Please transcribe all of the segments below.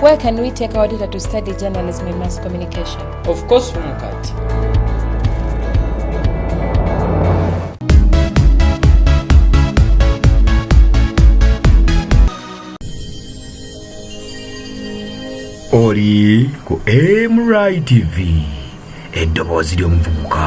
Where can we take our daughter to study journalism and mass communication? Of course, Mukati. oli ku mri tv eddoboozi ly'omuvubuka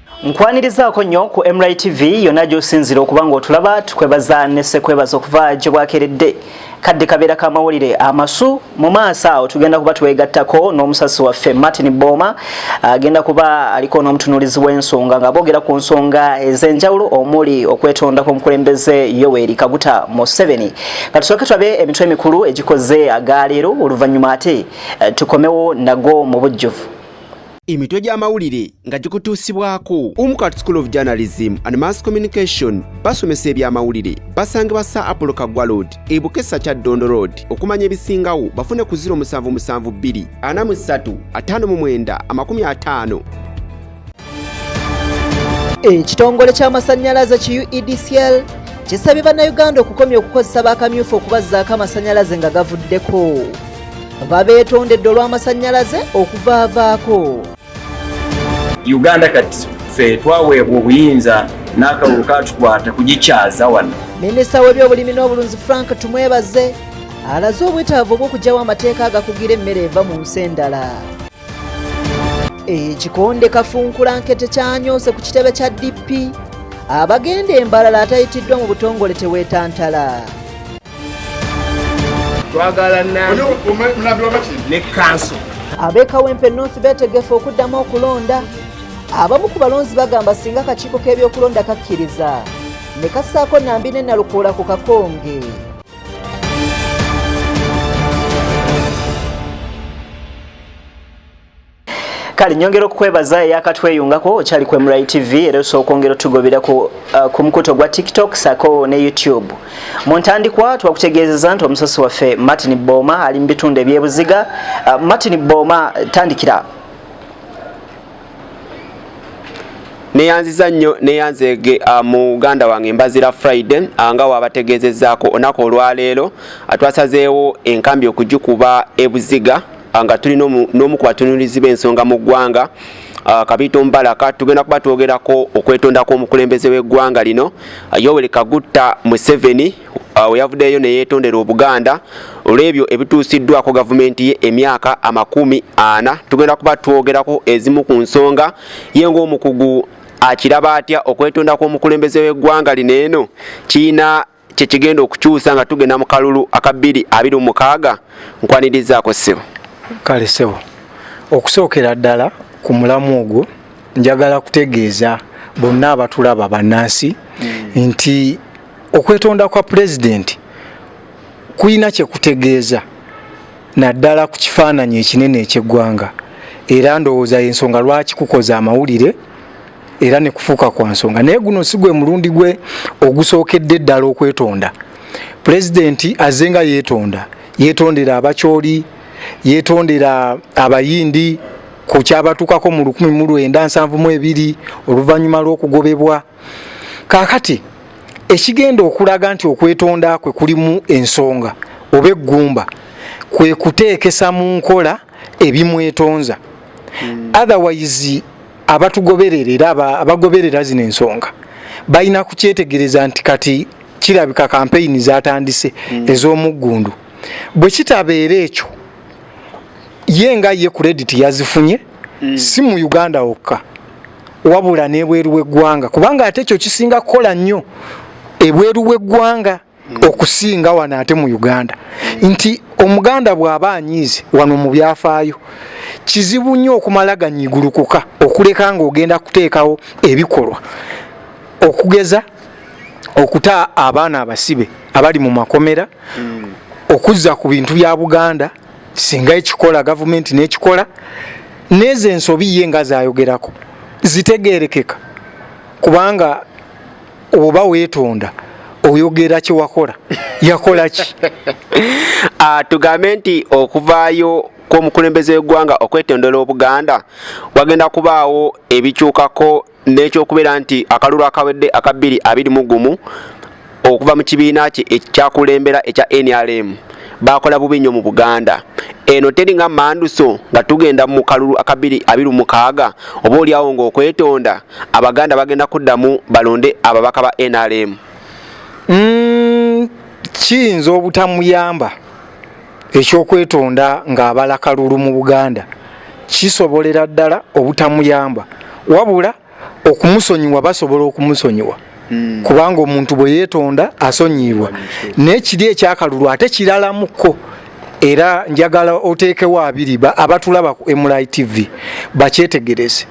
nkwanirizaako nnyo ku mri tv yonna gy'osinzira okuba ng'otulaba tukwebaza nesekwebaza okuva gye bwakeredde kadde kabeera ka mawulire amasu mu maaso awo tugenda kuba twegattako n'omusasi waffe martin booma agenda kuba aliko n'omutunuulizi w'ensonga nga boogera ku nsonga ez'enjawulo omuli okwetonda kw'omukulembeze yoweri kaguta museveni nga tusooke tulabe emitwe emikulu egikoze agaleero oluvannyuma ate eh, tukomewo nago mu bujjuvu emitwe gy'amawulire nga gikutuusibwako umu kat school of journalism and mass communication basomesa eby'amawulire basangibwa sa apollo kaggwa road e bukesa kya ddondo road okumanya ebisingawo bafune ku 0772 43 59 50 ekitongole ky'amasannyalaze ki uedcl kisabye bannayuganda okukomya okukozesa bakamyufu okubazzaako amasannyalaze nga gavuddeko babeetondedde olw'amasannyalaze okuvaavaako uganda kati ffe twaweebwa obuyinza n'akalulu katukwata kugikyaza wano minisita w'ebyobulimi n'obulunzi frank tumwebaze alaze obwetaavu obw'okugyawo amateeka agakugira emmere eva mu nsi endala ekikonde kafunkulanke tekyanyose ku kitebe kya dp abagenda embalala atayitiddwa mu butongole teweetantala twagala ne kanso ab'e kawempe north beetegefu okuddamu okulonda abamu ku balonzi bagamba singa akakiiko k'ebyokulonda kakkiriza ne kassaako nambi ne nalukoola ku kakonge kale nyongera okukwebaza eyakatweyungako okyali ku mri tv era osobola okwongera otugobera ku, uh, ku mukuto gwa tiktok sako ne youtube mu ntandikwa twakutegeezeza nti omusasi waffe martin boma ali mu bitundu ebyebuziga uh, martin boma tandikira neyanziza nnyo neyanzege uh, muganda wange mbazira friday uh, nga wabategeezezaako onaku olwaleero atwasazeewo enkambi okugikuba ebuziga ah, nga tuli n'omu ku batunulizi b'ensonga mu ggwanga ah, kabiito mbalaka tugenda kuba twogerako okwetonda kw'omukulembeze w'eggwanga lino ah, yoweri kagutta museveni weyavuddeyo neyetondera obuganda olw'ebyo ebituusiddwako gavumenti ye emyaka amakumi ana tugenda kuba twogerako ezimu ku nsonga ye ng'omukugu akiraba atya okwetonda kw'omukulembeze w'eggwanga lino eno kirina kyekigenda okukyusa nga tugenda mu kalulu aka bbiri abiri mumukaaga nkwanirizaako ssebo kale ssebo okusookera ddala ku mulamu ogwo njagala kutegeeza bonna abatulaba bannansi hmm. nti okwetonda kwa pulezidenti kulina kye kutegeeza naddala ku kifaananyi ekinene eky'eggwanga era ndowooza y'ensonga lwaki kukoza amawulire era ne kufuuka kwa nsonga naye guno si gwe mulundi gwe ogusookedde ddala okwetonda pulezidenti aze nga yeetonda yeetondera abakyoli yeetondera abayindi ku kyabatuukako mu 1972 oluvannyuma lw'okugobebwa kaakati ekigenda okulaga nti okwetonda kwe kulimu ensonga oba eggumba kwe kuteekesa mu nkola ebimwetonza hmm. otherwise abatugoberera era abagoberera zino ensonga balina kukyetegereza nti kati kirabika kampeyini zatandise mm. ez'omuggundu bwe kitabeera ekyo ye nga ye kurediti yazifunye mm. si mu uganda wokka wabula n'ebweru w'eggwanga kubanga ate ekyo kisinga kukola nnyo ebweru w'eggwanga okusinga wano ate mu uganda nti omuganda bw'aba anyiize wano mu byafaayo kizibu nnyo okumala ganyigulukuka okuleka ng'ogenda kuteekawo ebikolwa okugeza okuta abaana abasibe abali mu makomera hmm. okuzza ku bintu bya buganda singa ekikola gavumenti n'ekikola neezo ensobi ye nga zayogerako zitegerekeka kubanga oba weetonda oyogera kyewakola yakola ki ah, tugambe nti okuvaayo kw'omukulembeze w'eggwanga okwetondola obuganda wagenda kubaawo ebikyukako n'ekyokubeera nti akalulu akawedde aka bbiri abiri mu gumu okuva mu kibiina kye ekyakulembera ekya nrm bakola bubi nnyo mu buganda eno teri nga manduso nga tugenda mu kalulu akabiri abiri mukaaga oba olyawo ngaokwetonda abaganda bagenda kuddamu balonde ababaka ba nrm mm, kiyinza obutamuyamba ekyokwetonda ng'abala kalulu mu buganda kisobolera ddala obutamuyamba wabula okumusonyiwa basobola okumusonyiwa hmm. kubanga omuntu bwe yeetonda asonyiyibwa naye kiri ekyakalulu ate kiralamuko era njagala oteekewo abiri abatulaba ku mli tv bakyetegereze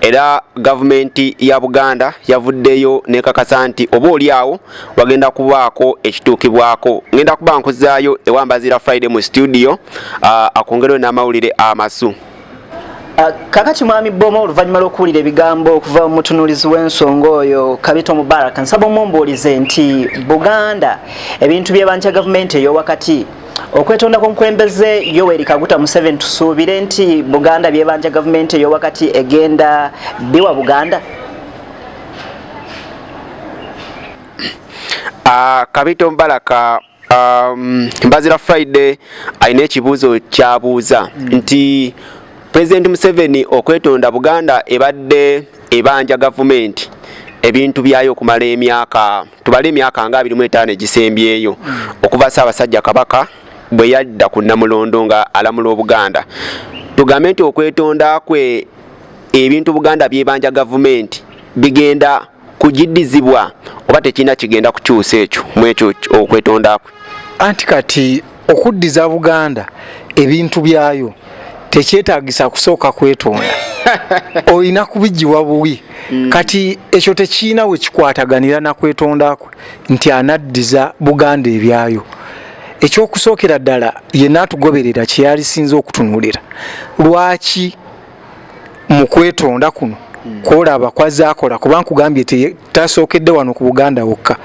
era gavumenti ya buganda yavuddeyo nekakasa nti oba oli awo wagenda kubaako ekituukibwako ngenda kuba nkuzaayo ewambazira friday mu studio uh, akwongereyo n'amawulire amasu uh, kakati mwami boma oluvannyuma lw'okuwulira ebigambo okuva mu mutunuulizi w'ensonga oyo kabito mubaraka nsaba omumbuulize nti buganda ebintu byebankya gavumenti ey'owakati okwetonda kwomukulembeze yoweri kaguta museven tusuubire nti buganda byebanja gavumenti eyowakati egenda biwa buganda uh, kabito mbalaka um, mbazira friday alina ekibuuzo kyabuuza mm. nti pulezidenti museveni okwetonda buganda ebadde ebanja gavumenti ebintu byayo okumala emyaka tubale emyaka nga abirimu etaano egisembyeyo hmm. okuva ssaabasajja kabaka bwe yadda ku namulondo nga alamula obuganda tugambe nti okwetonda kwe ebintu buganda byebanja gavumenti bigenda kugidizibwa oba tekirina kigenda kukyusa ekyo mwekyo okwetonda kwe anti kati okuddiza buganda ebintu byayo tekyetagisa kusooka kwetonda olina kubigiwa buwi mm. kati ekyo tekiina wekikwataganira nakwetonda kwe nti anaddiza buganda ebyayo ekyokusookera ddala ye naatugoberera kyeyalisinza okutunulira lwaki mu kwetonda kuno hmm. kwolaba kwazaakola kuba nkugambye tasookedde wano ku buganda wokka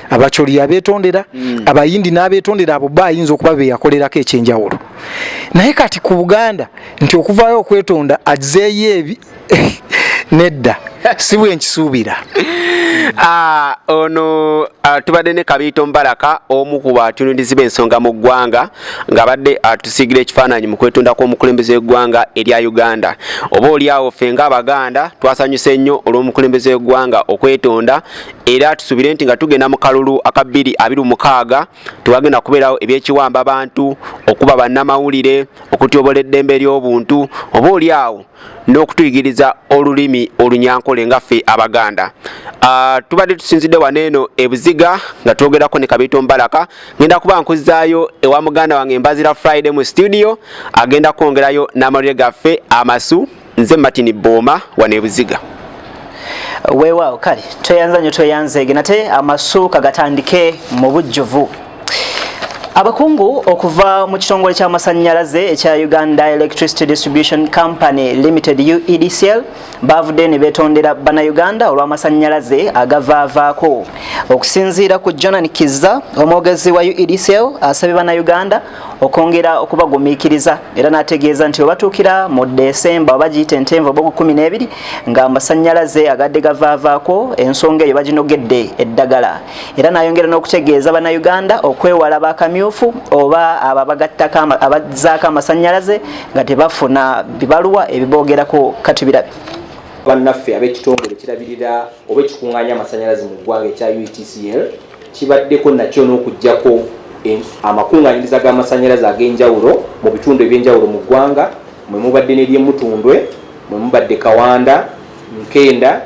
abacoli yabetondera hmm. abayindi n'abetondera abo ba ayinza okuba beyakolerako ekyenjawulo naye kati ku buganda nti okuvaayo okwetonda azeeyo ebi nedda si bwenkisuubira ah, ono ah, tubadde ne kabiito mbalaka omu ku batunundizi b'ensonga mu ggwanga ng'abadde atusiigira ekifaananyi mu kwetunda kw'omukulembeze w'eggwanga erya uganda oba oliawo ffe ng'abaganda twasanyuse nnyo olw'omukulembeze w'eggwanga okwetonda era tusubire nti nga tugenda mu kalulu aka 226 tewagenda kubeerawo ebyekiwamba bantu okuba bannamawulire okutyobola eddembe ly'obuntu oba oliawo n'okutuyigiriza olulimi olunyankole nga ffe abaganda ah, tubadde tusinzidde wano eno ebuziga nga twogerako ne kabiito mbalaka ngenda kuba nkuzaayo ewa muganda wange mbazira friday mu studio agenda kwongerayo n'amawulire gaffe amasu nze martin booma wano ebuziga weewaawo kale tweyanza nyo tweyanzeege nate amasuuka gatandike mu bujjuvu abakungu okuva mu kitongole ky'amasannyalaze ekya uganda electricity distribution company limited uedcl baavudde ne beetondera bannayuganda olw'amasannyalaze agavaavaako okusinziira ku jonan kizza omwogezi wa uedcl asabye bannayuganda okwongera okubagumiikiriza era n'ategeeza nti webatuukira mu desemba oba giyita entenva oba ogukumi n'ebiri ng'amasannyalaze agadde gavaavaako ensonga eyo baginogedde eddagala era nayongera n'okutegeeza bannayuganda okwewala bakamyufu oba abo abagattako abazzaako amasannyalaze nga tebafuna bibaluwa ebiboogerako katubirabi bannaffe ab'ekitongole kirabirira oba ekikunganya amasannyalaze mu ggwanga ekya utcl kibaddeko nakyo n'okugyako amakunganyiriza g'amasannyalaze ag'enjawulo mu bitundu eby'enjawulo mu ggwanga mwe mubadde n'eryemutundwe mwe mubadde kawanda nkenda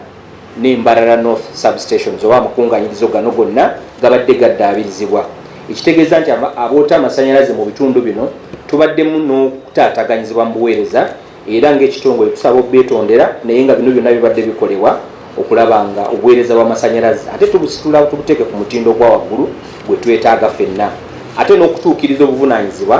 ne Mbarara North substations oba amakunganyirizo gano gonna gabadde gaddaabirizibwa ekitegeeza nti aboota amasanyalaze mu bitundu bino tubaddemu n'okutaataganyizibwa mu buweereza era ng'ekitongole tusaba obeetondera naye nga bino byonna bibadde bikolebwa okulaba nga obuweereza bw'amasanyalaze ate tubusitula tubuteeke ku mutindo ogwa waggulu gwe twetaaga fenna ate n'okutuukiriza obuvunaanyizibwa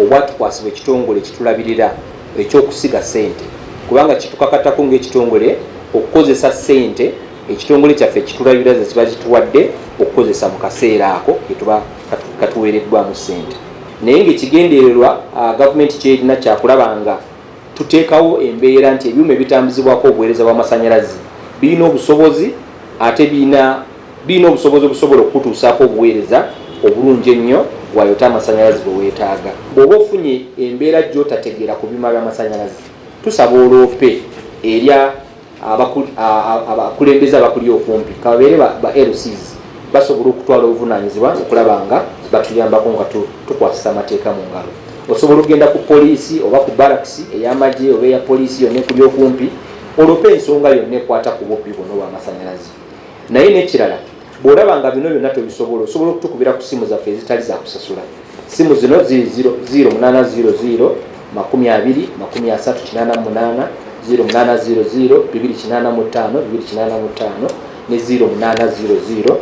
obwatukwasibwa ekitongole kitulabirira eky'okusiga ssente kubanga kitukakatako ng'ekitongole okukozesa ssente ekitongole kyaffe ekitulabira ze kiba kituwadde okukozesa mu kaseera ako ketuba katuweereddwamu ssente naye ngaekigendererwa ah, gavumenti kyerina kyakulaba nga tuteekawo embeera nti ebyuma ebitambuzibwako obuweereza bw'amasannyalaze birina obusobozi ate birina birina obusobozi obusobola okukutuusaako obuweereza obulungi ennyo bwayota amasanyalazi bwe weetaaga. Bw'oba ofunye embeera gy'otategeera ku byuma by'amasanyalazi, tusaba oloope eri abakulembeze abakuli okumpi kababeere ba LCs basobola okutwala obuvunaanyizibwa okulaba nga batuyambako nga tukwasisa amateeka mu ngalo. Osobola okugenda ku poliisi oba ku barakisi ey'amagye oba eya poliisi yonna ekuli okumpi oloope ensonga yonna ekwata ku bubbi buno obw'amasanyalazi. naye nekirala bwolaba nga bino byonna tobisobola osobola okutukubira ku simu zaffe ezitali zakusasula simu zino ziri 0800 makumi abiri makumi asatu kinana munana 0800 bibiri kinana mutano bibiri kinana mutano ne 0800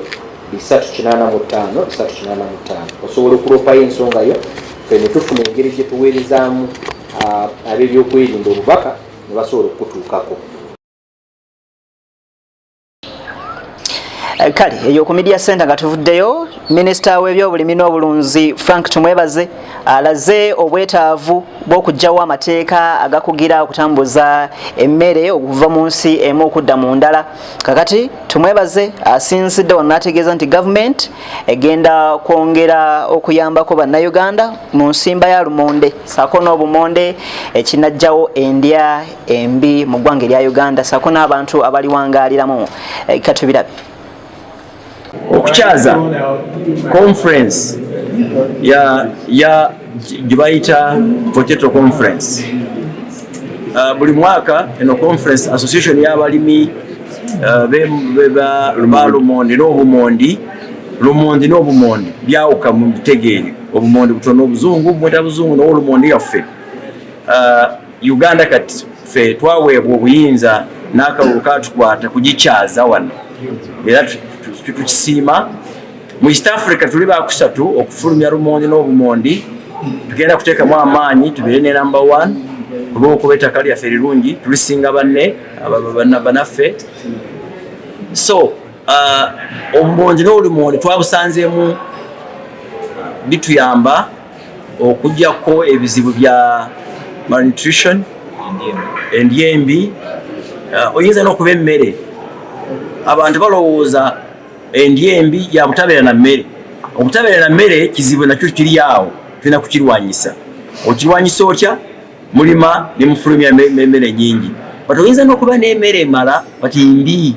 bisatu kinana mutano bisatu kinana mutano osobola okulopayo ensonga yo fe netufuna engeri gyetuweerezamu ah, ab'ebyokwerinda obubaka ne basobola okukutuukako Eh, kale eyo ku media center nga tuvuddeyo minisita w'ebyobulimi n'obulunzi frank tumwebaze alaze obwetaavu bw'okugyawo amateeka agakugira okutambuza emmere okuva mu nsi emu okudda mu ndala kakati tumwebaze asinzidde wano n'ategeeza nti gavumenti egenda kwongera okuyambako bannayuganda mu nsimba ya lumonde saako n'obumonde ekinajjawo endya embi mu ggwanga erya uganda saako n'abantu abaliwangaaliramu eh, katubirabe okukyaza conference ya ya gyebayita potato conference uh, buli mwaka eno conference association y'abalimi uh, beba lumondi n'obumondi lumondi n'obumondi byawuka mu bitegeeri obumondi butono obuzungu bumweta buzungu nowolumondi yaffe uh, uganda kati fe twaweebwa obuyinza n'akalulu katukwata kugikyaza wano era tukisiima mu east africa tuli bakusatu okufulumya lumondi n'obumondi tugenda kuteekamu amaanyi tubeere ne namba one olwokuba ettaka lyaffe rirungi tulisinga banne banaffe so uh, obumondi n'olumondi twabusanzeemu bituyamba okujako ebizibu bya malnutrition endya embi uh, oyinza n'okuba emmere abantu balowooza endya embi yabutabeera na mmere obutabeera na mmere kizibu nakyo kiri awo tulina kukirwanyisa okirwanyisa otya mulima nemufulumya emmere nyingi but oyinza n'okuba n'emmere emala but mbi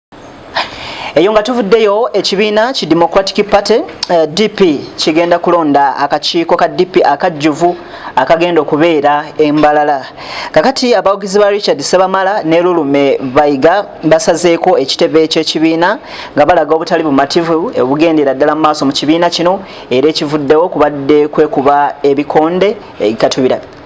eyo nga tuvuddeyo ekibiina ki democratic party eh, dp kigenda kulonda akakiiko ka dp akajjuvu akagenda okubeera embalala kakati abawagizi ba richard sebamala ne lulume bayiga basazeeko ekitebe ekyekibiina nga balaga obutali bumativu obugendera ddala mu maaso mu kibiina kino era ekivuddewo kubadde kwekuba ebikonde eh, katubirabe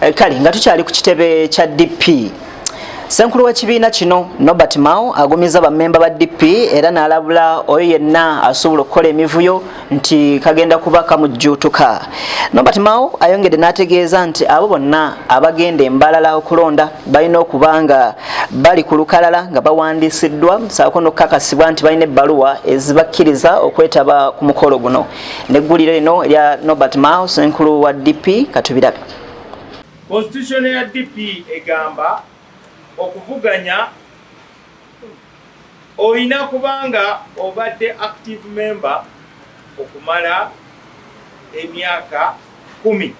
Eh, kale nga tukyali ku kitebe kya dp senkulu w'ekibiina kino nobert mao agumizza bammemba ba dp era n'alabula oyo yenna asobola okukola emivuyo nti kagenda kuba kamujjuutuka nobert mao ayongedde n'ategeeza nti abo bonna abagenda embalala okulonda balina okuba nga bali ku lukalala nga bawandiisiddwa saako n'okukakasibwa nti balina ebbaluwa ezibakkiriza okwetaba ku mukolo guno negguliro lino erya nobert mao senkulu wa dp katubirabe constitution ya dp egamba okuvuganya olina kubanga obadde active member okumala emyaka kumi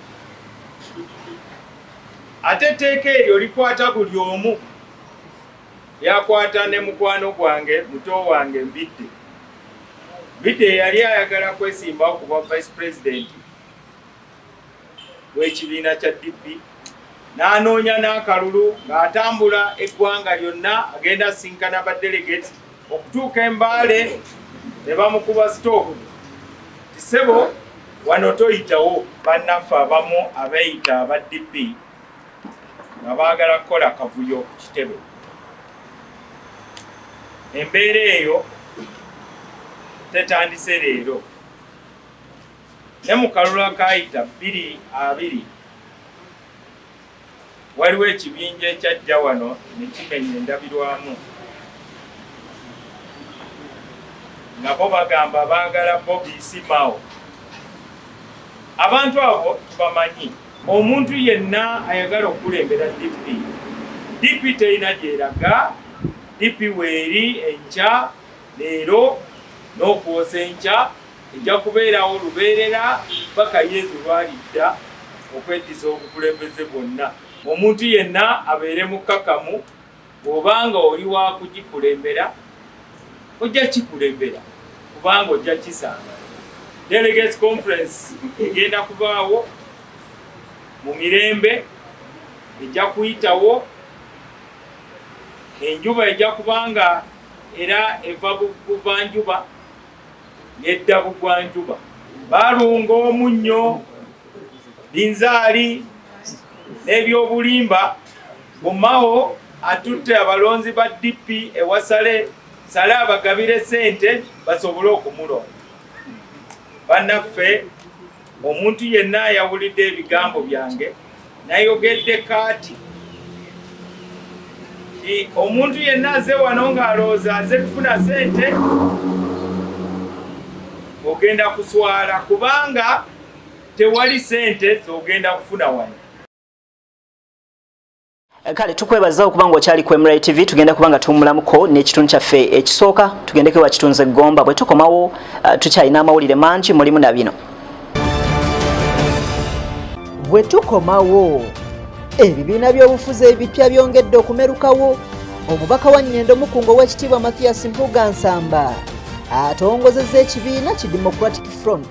ate etteeka eryo likwata buli omu lyakwata ne mukwano gwange muto wange mbidde Bidde yali ayagala kwesimbawo ku bwa vice president w'ekibiina kya DP n'anoonya n'akalulu ng'atambula eggwanga lyonna agenda asinkana ba delegate okutuuka embaale ne bamukuba sitooku tisebo wano toyitawo bannaffe abamu abeeyita aba DP nga baagala kukola akavuyo ku kitebe embeera eyo tetandise leero ne mu kalulu akaayita bbiri abiri waliwo ekibinja ekyajja wano ne kimenya endabirwamu nga bo bagamba baagala bobi simao abantu abo tubamanyi Omuntu yenna ayagala okukulembera DP, DP terina gyeraga, DP weeri enkya leero n'okwosa enkya ejja kubeerawo lubeerera paka Yezu lwalidda okweddiza obukulembeze bwonna. Omuntu yenna abeere mukkakamu. Bw'obanga oli wa kugikulembera, ojja kikulembera kubanga ojja kisanga. Delegates Conference egenda kubaawo mu mirembe, ejja kuyitawo, enjuba ejja kubanga era eva buvanjuba nedda bugwanjuba balunga omunnyo binzaali n'ebyobulimba Mu Mao atutte abalonzi ba DP e Wasale sale abagabire sente basobole okumulonda. Banaffe omuntu yenna ayawulidde ebigambo byange nayogedde kaati omuntu yenna aze wano ng'alowooza aze kufuna sente ogenda kuswala kubanga tewali sente zogenda kufuna wano Eh, kale tukwebaza okuba nga okyali ku mri tv tugenda kuba nga tuwumulamuko n'ekitundu kyaffe ekisooka tugendeko ewa kitunze gomba bwe tukomawo eh, tukyalina amawulire mangi mulimu na bino bwe tukomawo ebibiina by'obufuzi ebipya byongedde okumerukawo omubaka wa nyendo mukungo w'ekitiibwa mathias mpuga nsamba atongozeza ekibiina ki democratic front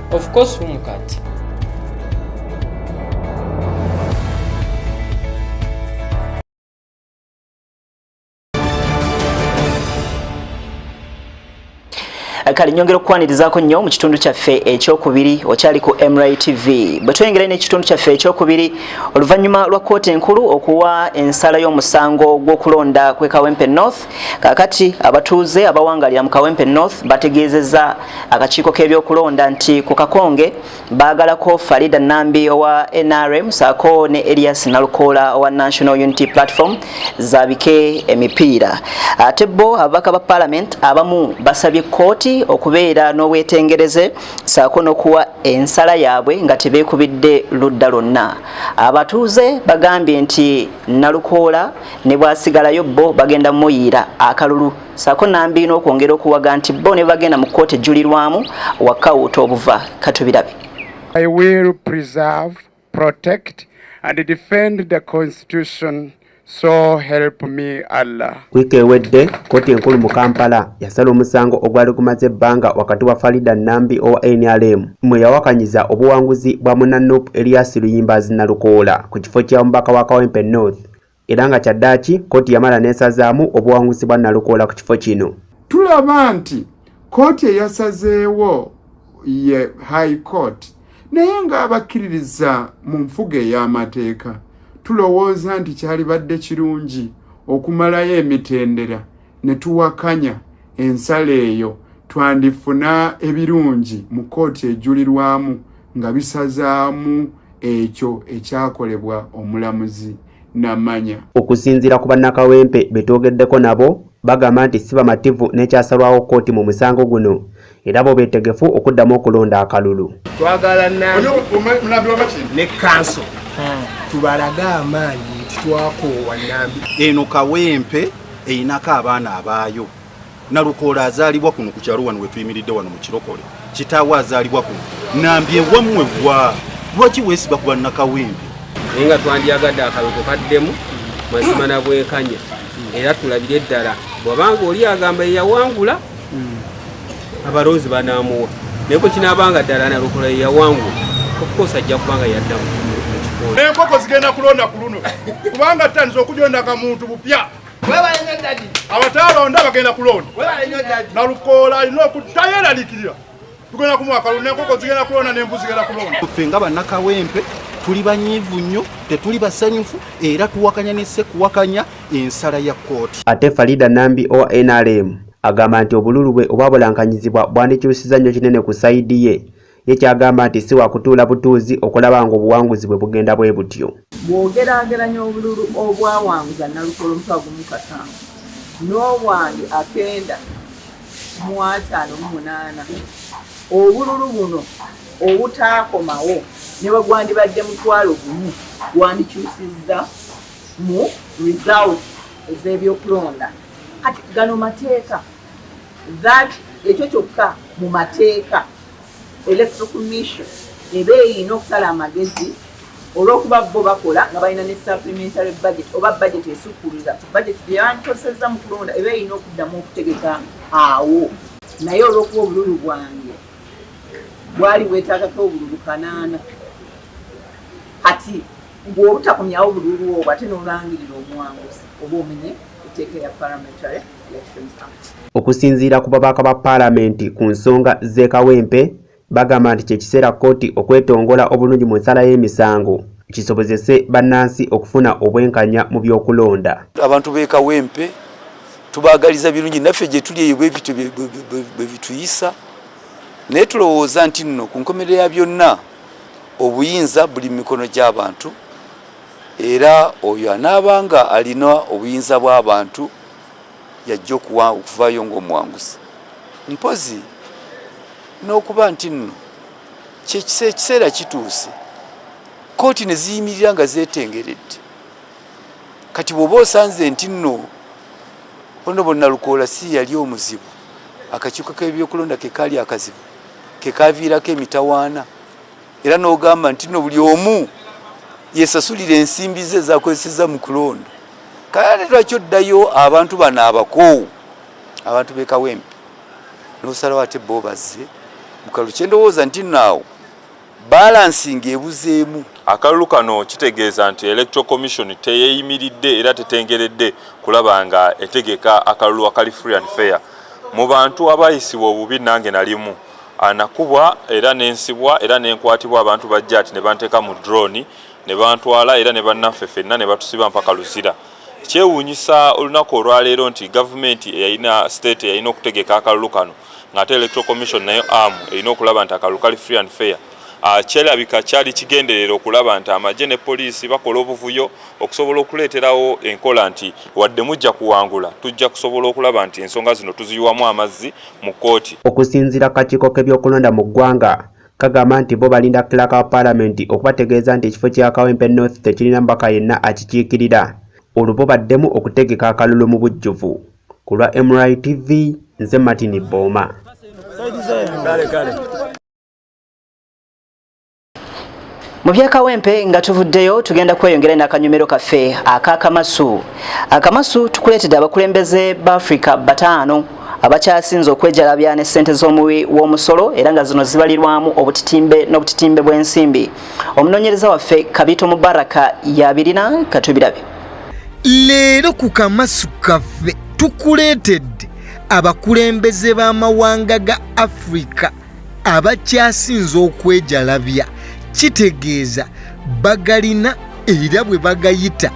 Of course umukati. Eh, kale nyongera okukwanirizaako nnyo mu kitundu kyaffe ekyokubiri okyali ku mri tv bwe tweyongera ino ekitundu kyaffe ekyokubiri oluvannyuma lwa kkooti enkulu okuwa ensala y'omusango gw'okulonda kwekawempe north kakati abatuuze abawangalira mu kawempe north bategeezeza akakiiko k'ebyokulonda nti ku kakonge baagalako farida nambi owa nrm saako ne elias nalukoola owa national unity platform zabike emipiira ate bo ababaka ba parliament abamu basabye kkooti okubeera n'obwetengereze saako n'okuwa ensala yaabwe nga tebeekubidde ludda lwonna abatuuze bagambye nti nalukoola ne bwasigalayo bo bagenda muyiira akalulu sako nambi n'okwongera okuwaga nti bo ne bagenda mu kkooti ejjulirwamu wakawuuta obuva katubirabe I will preserve, protect and defend the constitution so help me Allah. Wiiki ewedde kkooti enkulu mu Kampala yasala omusango ogwali gumaze ebbanga wakati wa Farida Nambi owa NRM mwe yawakanyiza obuwanguzi bwa muna Nup Elias Luyimbazi Nalukoola ku kifo kya mubaka wa Kawempe North era nga kyaddaaki kkooti yamala n'esazaamu obuwanguzi bwa Nalukoola ku kifo kino. Tulaba nti kkooti eyasazeewo ye High Court naye ng'abakkiririza mu nfuga ey'amateeka tulowooza nti kyalibadde kirungi okumalayo emitendera ne tuwakanya ensala eyo twandifuna ebirungi mu kkooti ejulirwamu nga bisazaamu ekyo ekyakolebwa omulamuzi namanya okusinziira ku bannakawempe betwogeddeko nabo bagamba nti si bamativu n'ekyasalwawo kkooti mu musango guno era bo beetegefu okuddamu okulonda akalulu twagala ne kanso hmm. tubalage amaanyi nti twakoowa nambi eno kawempe erinako abaana abaayo Nalukoola azaalibwa kuno ku kyalo wano wetuyimiridde wano mu kirokole. Kitaawe azaalibwa kuno. Nambye wammwe wa lwaki weesiba ku bannakawempe? Naye nga twandyagadde akaloko kaddemu mazima na bwenkanya era tulabire ddala bwabanga oli agamba yeyawangula abalonzi banaamuwa naye kwe kinaabanga ddala nalukoola yeyawangula ofukoosi ajja kubanga yaddamu enkoko zigenda kulonda ku luno kubanga tutandise okujonda kamuntu bupya abataalonda bagenda kulonda nalukoola alina okuddayo eralikirira tugenda kumuwa kalonda enkoko zigenda kulonda n'embu zigenda kulonda ffe nga bannakawempe tuli banyiivu nnyo tetuli basanyufu era tuwakanya ne sekuwakanya ensala ya kkooti ate farida nambi owa nrm agamba nti obululu bwe obwabulankanyizibwa bwandikyusiza nnyo kinene ku sayidi ye ye kyagamba nti si wakutuula butuuzi okulaba ng'obuwanguzi bwe bugenda bwe butyo. Bw'ogeraageranya obululu obwawanguza Nalukoola omutwalo gumu mu kasanvu n'obwange akenda mu ataano mu munaana, obululu buno obutaakomawo ne bwe gwandibadde mutwalo gumu gwandikyusizza mu results ez'ebyokulonda. Kati gano mateeka that ekyo kyokka mu mateeka. Electoral Commission eba erina okusala amagezi olw'okuba bo bakola nga balina ne supplementary budget oba budget esukkulira ku budget gye bandikozesezza mu kulonda eba erina okuddamu okutegeka awo naye olw'okuba obululu bwange bwali bwetaagako obululu kanaana kati bw'obutakomyawo bululu obwo ate n'olangirira omuwanguzi oba omenye etteeka ya parliamentary Okusinziira ku babaka ba paalamenti ku nsonga z'e Kawempe, bagamba nti kye kiseera kkooti okwetongola obulungi mu nsala y'emisango kisobozese bannansi okufuna obwenkanya mu by'okulonda. Abantu b'e Kawempe tubaagaliza birungi naffe gye tuli eyo bwe bityo bwe bituyisa naye tulowooza nti nno ku nkomerero ya byonna obuyinza buli mu mikono gy'abantu era oyo anaabanga alina obuyinza bw'abantu yajja okuwa okuvaayo ng'omuwanguzi mpozi n'okuba nti nno kyekisa ekiseera kituuse kooti ne ziyimirira nga zeetengeredde kati bw'oba osanze nti nno ono bonna lukoola si yali omuzibu akakiiko k'ebyokulonda ke kaali akazibu ke kaaviirako emitawaana era n'ogamba nti no buli omu yesasulira ensimbi ze ezakozeseza mu kulonda kale lwaki oddayo abantu bano abakoowu abantu bekawempe nosalawo ate bo bazze mukalu kyendowooza nti naawo balansinga ebuzeemu akalulu kano kitegeeza nti electoral commission teyeyimiridde era tetengeredde kulaba nga etegeka akalulu akali free and fair mu bantu abayisibwa obubi nange nalimu anakubwa era nensibwa era nenkwatibwa abantu bajjati ne banteeka mu drone ne bantwala era ne bannaffe fenna ne batusiba mpaka luzira kyewuunyisa olunaku olwaleero nti gavumenti eyalina state eyalina okutegeka akalulu kano ng'ate electoral commission nayo am erina okulaba nti akalulu kali free and fair ah, kyerabika kyali kigenderera okulaba nti amagye ne poliisi bakola obuvuyo okusobola okuleeterawo enkola nti wadde mujja kuwangula tujja kusobola okulaba nti ensonga zino tuziyiwamu amazzi mu kkooti. Okusinzira ku kakiiko k'ebyokulonda mu ggwanga kagamba nti bo balinda clerk wa palamenti okubategeeza nti ekifo kya Kawempe North tekirina mubaka yenna akikiikirira olwo bo baddemu okutegeka akalulu mu bujjuvu. Ku lwa MRI TV, nze Martin Bbooma. mu byakawempe nga tuvuddeyo tugenda kweyongera nakanyumiro kaffe akakamasu akamasu tukuleetedde abakulembeze baafrika bataano abakyasinze okwejalabya ne ssente z'omuwi w'omusolo era nga zino zibalirwamu obutitimbe n'obutitimbe bw'ensimbi omunoonyereza waffe kabito mubaraka yabirina katubirabe leero ku kamasu kaffe tukuleetedde abakulembeze b'amawanga ga afrika abakyasinze okwejalabya kitegeeza bagalina era bwe bagayita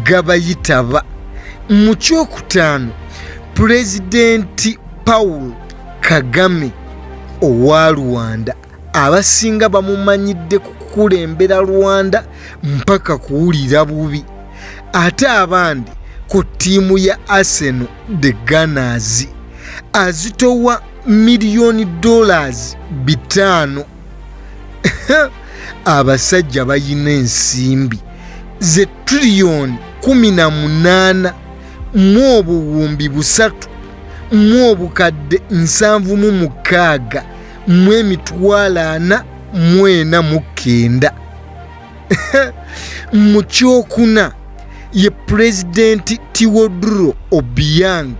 gabayitaba mu kyokutaano pulezidenti paul kagame owa rwanda abasinga bamumanyidde ku kukulembera rwanda mpaka kuwulira bubi ate abandi ku ttiimu ya arsenal the gunners azitowa miliyoni dollars bitaano abasajja bayina ensimbi ze triliyoni kumi na munaana mu obuwumbi busatu mu obukadde nsanvu mu mukaaga mu emitwalo ana mwena mu kenda mu kyokuna ye pulezidenti tiwoduro obiang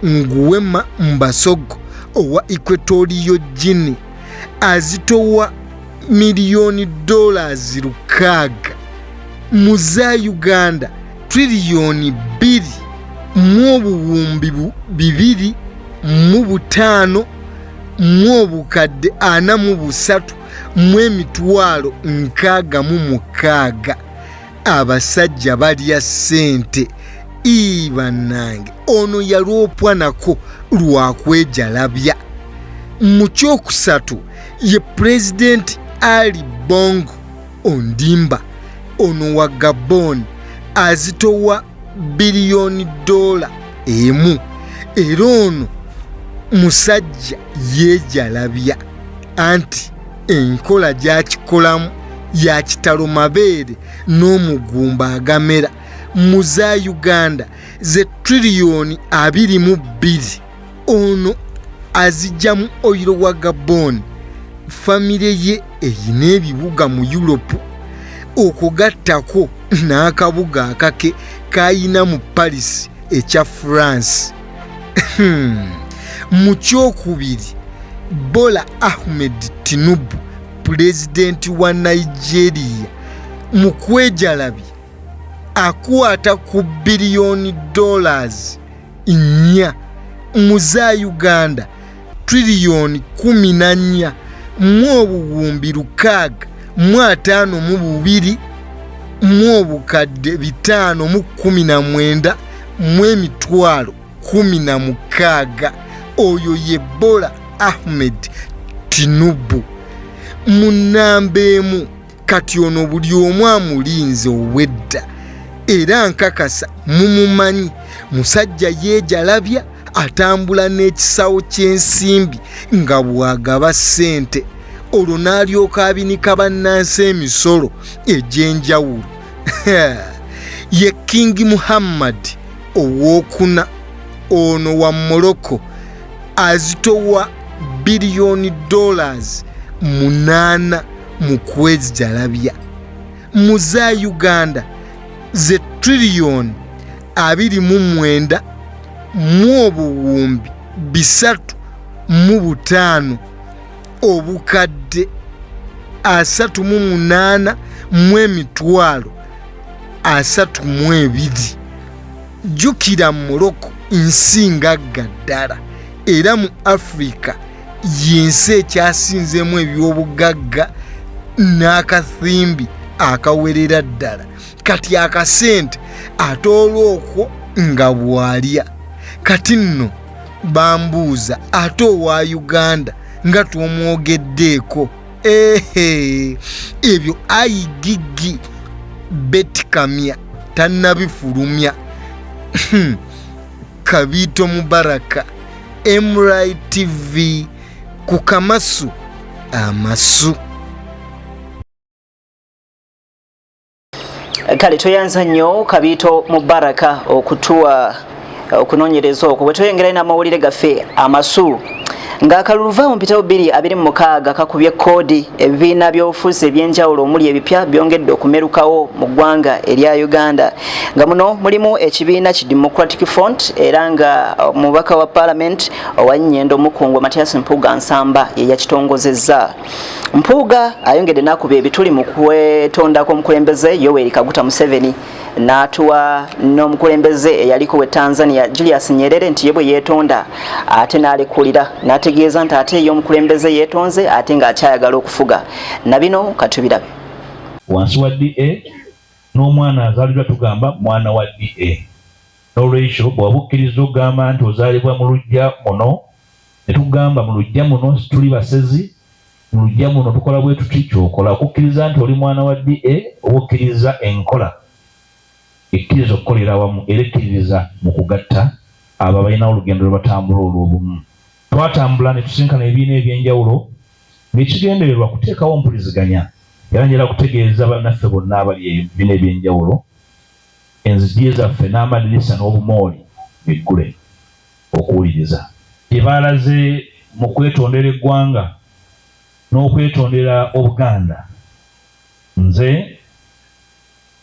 nguwema mbasogo owa equatoriyo gini azitowa miliyoni dollars lukaaga mu za uganda triliyoni bbiri mu obuwumbi bu- bibiri mu butaano mu obukadde ana mu busatu mu emitwalo nkaaga mu mukaaga abasajja balya ssente ii bannange ono yalwopwa nako lwakwejalabya mu kyokusatu ye pulezidenti ali bongo ondimba ono wa gabon azitowa biliyoni doola emu era ono musajja yejalabya anti enkola gyakikolamu ya kitalo mabeere n'omugumba agamera mu za uganda ze triliyoni abiri mu bbiri ono azijjamu oyiro wa gabon famire ye erina ebibuga mu yuropu okugattako n'akabuga akake kayina mu paris ekya france Hmm. mu kyokubiri bola ahmed tinubu pulezidenti wa nigeria mu kwejalabya akwata ku biliyoni dollars nnya mu za uganda triliyoni kumi na nnya mu obuwumbi lukaaga mu ataano mu bubiri mu obukadde bitaano mu kkumi na mwenda mu emitwalo kkumi na mukaaga oyo ye bola ahmed tinubu mu nnamba emu kati ono buli omu amulinze obwedda era nkakasa mumumanyi musajja yeejalabya atambula n'ekisawo ky'ensimbi nga bw'agaba ssente olwo n'alyoka abinika bannansi emisolo egy'enjawulo ye kingi muhammad ow'okuna ono wa morocco azitowa biliyoni dollars munaana mu kwezjalabya mu za uganda ze triliyoni abiri mu mwenda mu obuwumbi bisatu mu butaano obukadde asatu mu munaana mu emitwalo asatu mu ebiri jjukira mu moroko nsi ngagga ddala era mu afirika y'ensi ekyasinzeemu ebyobugagga n'akathimbi akawerera ddala kati akasente ate olwokwo nga bwalya kati nno bambuuza ate owa uganda nga twomwogeddeeko ehe ebyo ayigigi betikamya tannabifulumya kabiito mubaraka mri tv ku kamasu amasu kale tweyanza nnyo kabiito mubaraka okutuwa okunonyereza okwo bwetweyongerayo namawulire gaffe amasu ng'akalulu vaawo mpitawo bbiri abiri mu mukaaga kakubye koodi ebibiina by'obufuzi eby'enjawulo omuli ebipya byongedde okumerukawo mu ggwanga erya uganda nga muno mulimu ekibiina ki democratic front era nga omubaka wa paalamenti owa nyendo mukungwa matias mpuuga nsamba ye yakitongozezza mpuuga ayongedde n'akuba ebituli mu kwetondako omukulembeze yoweri kaguta museveni n'atuwa n'omukulembeze eyaliko we tanzania julius nyerere nti ye bwe yeetonda ate n'alekulira n'ategeeza nti ate ye omukulembeze yeetonze ate ng'akyayagala okufuga na bino katubirabe wansi wa da n'omwana azaalibwa tugamba mwana wa da n'olwekyo bwewaba okkiriza okugamba nti ozaalibwa mu lujja muno ne tugamba mu lujja muno situli basezi Mu luggya muno tukola bwe tuti, ky'okola okukkiriza nti oli mwana wa DA oba okkiriza enkola ekkiriza okukolera awamu era ekkiririza mu kugatta abo abalinawo olugendo lwe batambula olw'obumu. Twatambula ne tusisinkana ebibiina eby'enjawulo ng'ekigendererwa kuteekawo mpuliziganya era njala kutegeeza bannaffe bonna abali ebibiina eby'enjawulo enzigi zaffe n'amadirisa n'obumooli biggule. okuwuliriza. Bye baalaze mu kwetondera eggwanga n'okwetondera Obuganda nze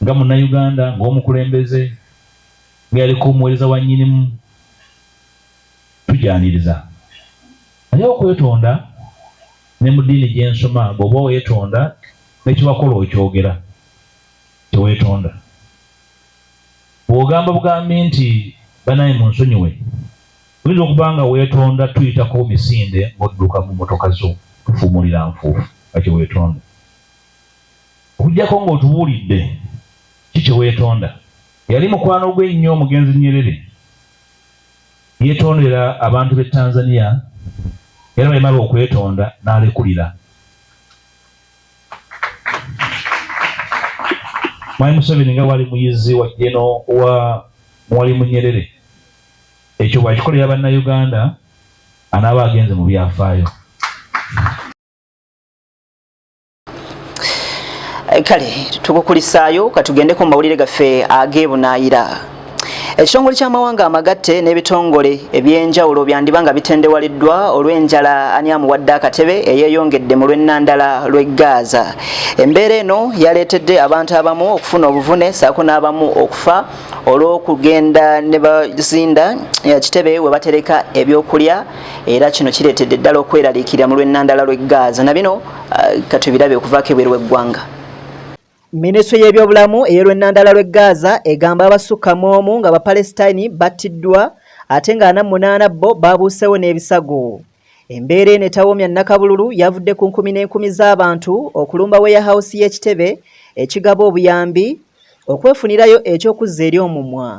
nga Munnayuganda, ng'omukulembeze, nga yaliko omuweereza wa Nnyinimu tugyaniriza. Naye okwetonda ne mu ddiini gye nsoma bw'oba weetonda ne kye wakola okyogera, teweetonda. Bw'ogamba bugambi nti banaye munsonyiwe, oyinza okuba nga weetonda tuyitako misinde ng'odduka mu mmotoka zo tufuumulira nfuufu nga kye weetonda. Okuggyako ng'otubuulidde ki kye weetonda. Eyali mukwano gwe ennyo omugenzi Nyerere yeetondera abantu b'e Tanzania era bwe yamala okwetonda n'alekulira. Mwami Museveni nga wali muyizi wa jeno wa mwali munyerere ekyo bwakikolera bannayuganda anaaba agenze mu byafaayo kale tukukulisaayo katugendeko mu mawulire gaffe ageebunaayira ekitongole ky'amawanga amagatte n'ebitongole eby'enjawulo byandiba nga bitendewaliddwa olw'enjala ani amuwadde akatebe eyeeyongedde mu lw'ennandala lw'e gaaza embeera eno yaleetedde abantu abamu okufuna obuvune saako n'abamu okufa olw'okugenda ne bazinda kitebe we batereka ebyokulya era kino kireetedde ddala okweraliikirira mu lw'ennandala lw'e gaaza na bino uh, katubirabe okuvaako ebweru w'eggwanga Minisitule y'ebyobulamu ey'olwennandala lw'e Gaza egamba abasukka mu omu nga Bapalesitayini battiddwa ate nga ana munaana bo baabuuseewo n'ebisago. Embeera eno etawoomya nnakabululu yavudde ku nkumi n'enkumi z'abantu okulumba weyahawusi y'ekitebe ekigaba obuyambi okwefunirayo eky'okuzza eri omumwa.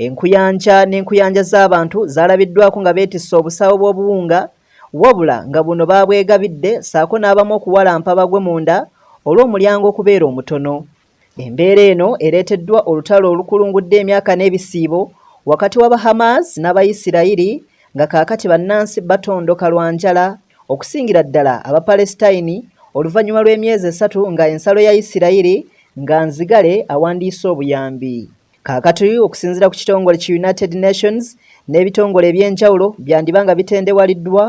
Enkuyanja n'enkuyanja z'abantu zaalabiddwaako nga beetisse obusawo bw'obuwunga wabula nga buno baabwegabidde ssaako n'abamu okuwalampa bagwe munda olw'omulyango okubeera omutono. Embeera eno ereeteddwa olutalo olukulungudde emyaka n'ebisiibo wakati wa Bahamas n'Abayisirayiri nga kaakati bannansi batondoka lwa njala okusingira ddala Abapalesitayini oluvannyuma lw'emyezi esatu nga ensalo ya Yisirayiri nga nzigale awandiise obuyambi. Kaakati okusinziira ku kitongole ki United Nations n'ebitongole eby'enjawulo byandiba nga bitendewaliddwa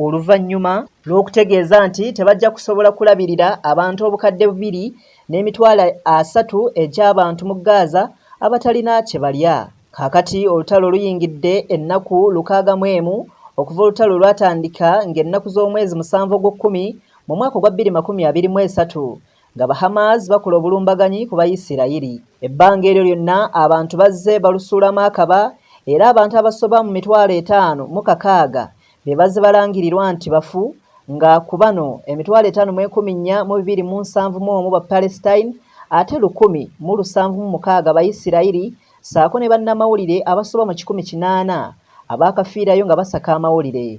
oluvannyuma lw'okutegeeza nti tebajja kusobola kulabirira abantu obukadde bubiri n'emitwalo asatu egy'abantu mu Gaza abatalina kye balya. Kaakati olutalo luyingidde ennaku lukaaga mu emu okuva olutalo lwatandika ng'ennaku z'omwezi musanvu ogw'okkumi mu mwaka ogwa bbiri makumi abiri mu esatu nga Bahamas bakola obulumbaganyi ku Bayisirayiri. Ebbanga eryo lyonna abantu bazze balusuulamu akaba era abantu abasoba mu mitwalo etaano mu kakaaga be bazze balangirirwa nti bafu nga ku bano emitwalo etaano mu enkumi nnya mu bibiri mu nsanvu mu omu Bapalestine ate lukumi mu lusanvu mu mukaaga Bayisirayiri ssaako ne bannamawulire abasoba mu kikumi kinaana abaakafiirayo nga basaka amawulire.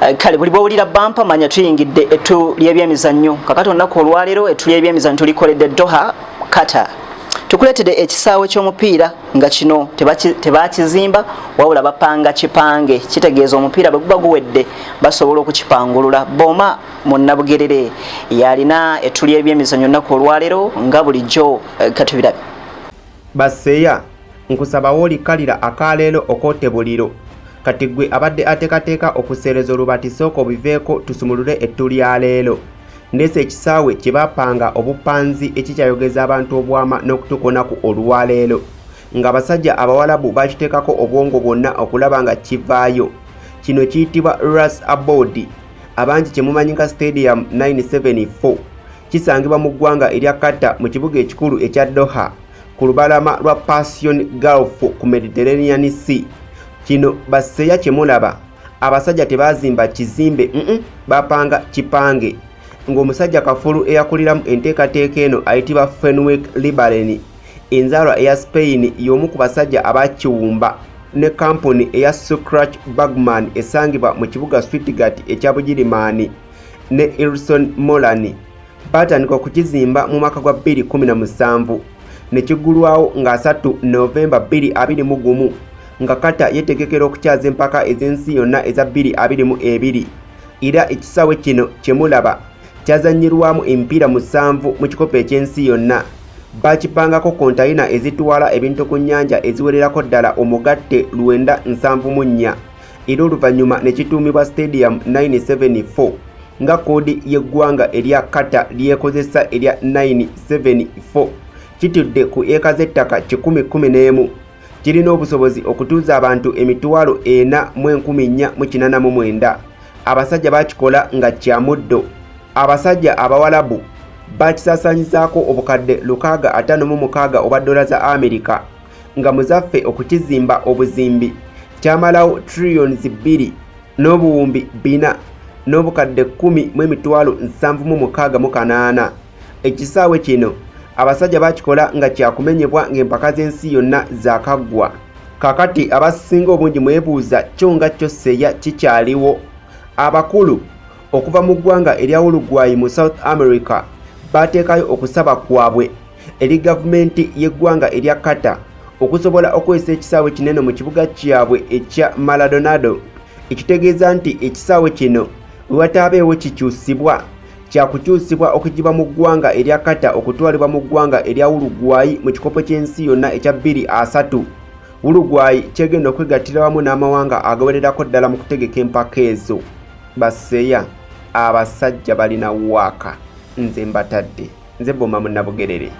Eh, kale buli bwowulira bampa manya tuyingidde ettu lyebyemizannyo kakati olunaku olwaleero ettu lyebyemizannyo tulikoledde doha kata tukuleetedde ekisaawe ky'omupiira nga kino tebakizimba wabula bapanga kipange kitegeeza omupiira bwe guba guwedde basobola okukipangulula boma munnabugerere yalina ettu lyebyemizannyo olunaku olwaleero nga bulijjo eh, katubirabe Baseya, nkusaba w'olikkalira akaleero okoote buliro. Kati ggwe abadde ateekateeka okuseereza olubaati sooka obiveeko tusumulule ettu lya leero. Ndeese ekisaawe kye baapanga obupanzi ekikyayogeza abantu obwama n'okutuuka olunaku olwaleero. Ng'abasajja Abawalabu bakiteekako obwongo bwonna okulaba nga kivaayo. Kino kiyitibwa Ras Aboud. Abangi kye mumanyi nga Stadium 974. kisangibwa mu ggwanga erya Qatar mu kibuga ekikulu ekya Doha ku lubalama lwa Persian Gulf ku Mediterranean Sea. Kino baseya kye mulaba abasajja tebaazimba kizimbe mm -mm, bapanga kipange ng'omusajja kafulu eyakuliramu enteekateeka eno ayitibwa Fenwick Libereni enzaalwa eya Spain y'omu ku basajja abakiwumba ne kampuni eya Sucrach Bagman esangibwa mu kibuga Stuttgart ekya Bugirimaani. ne Ilson Molani baatandika okukizimba mu mwaka gwa 2017 ne kigulwawo nga 3 Novemba 2021 nga kata yetegekera okukyaza empaka ez'ensi yonna eza 2022 era ekisaawe kino kyemulaba kyazanyirwamu emipiira musanvu mu kikopo eky'ensi yonna bakipangako kontayina ezitwala ebintu ku nnyanja eziwererako ddala omugatte lwenda nsanvu mu nnya era oluvannyuma ne kituumibwa stadium 974 nga koodi y'eggwanga erya kata lyekozesa erya 974 kitudde ku eka z'ettaka 111 kirina obusobozi okutuuza abantu emitwalo ena mu enkumi nnya mu kinana mu mwenda abasajja bakikola nga kya muddo abasajja abawalabu bakisaasanyizaako obukadde lukaaga ataano mu mukaaga obwa ddola za amerika nga muzaffe okukizimba obuzimbi kyamalawo trillions bbiri n'obuwumbi bina n'obukadde kkumi mu emitwalo nsanvu mu mukaaga mu kanaana ekisaawe kino abasajja bakikola nga kyakumenyebwa ng'empaka z'ensi yonna zakaggwa kakati abasinga obungi mwebuuza kyo nga kyo seya kikyaliwo abakulu okuva mu ggwanga erya ulugwayi mu south america baateekayo okusaba kwabwe eri gavumenti y'eggwanga erya Qatar okusobola okukozesa ekisaawe kinene mu kibuga kyabwe ekya Maradonado ekitegeeza nti ekisaawe kino bwe wataabeewo kikyusibwa kya kukyusibwa okugiba mu ggwanga erya Qatar okutwalibwa mu ggwanga erya Uruguay mu kikopo ky'ensi yonna ekya bbiri asatu Uruguay kyegenda okwegattira wamu n'amawanga agawererako ddala mu kutegeka empaka ezo baseya abasajja balina waaka nze mbatadde nze boma munabugerere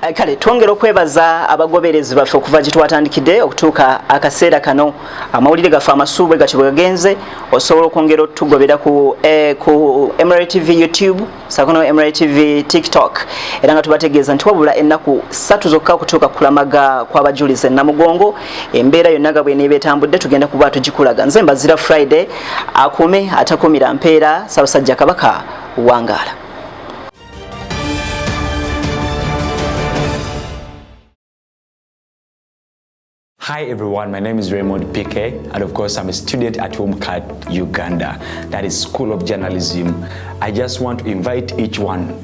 eh, kale twongera okwebaza abagoberezi baffe okuva gye twatandikidde okutuuka akaseera kano amawulire gaffe amasuubwe gatyo bwe gagenze osobola okwongera otugobera ku eh, mra tv youtube sakono mra tv tiktok era nga tubategeeza nti wabula ennaku satu zokka okutuuka kulamaga kw'abajulizi enamugongo embeera yonna nga bweneeba etambudde tugenda kuba tugikulaga nze mbazira friday akuume atakumira mpeera sabasajja kabaka wangaala Hi everyone, my name is Raymond PK and of course I'm a student at Homecat Uganda, that is School of Journalism. I just want to invite each one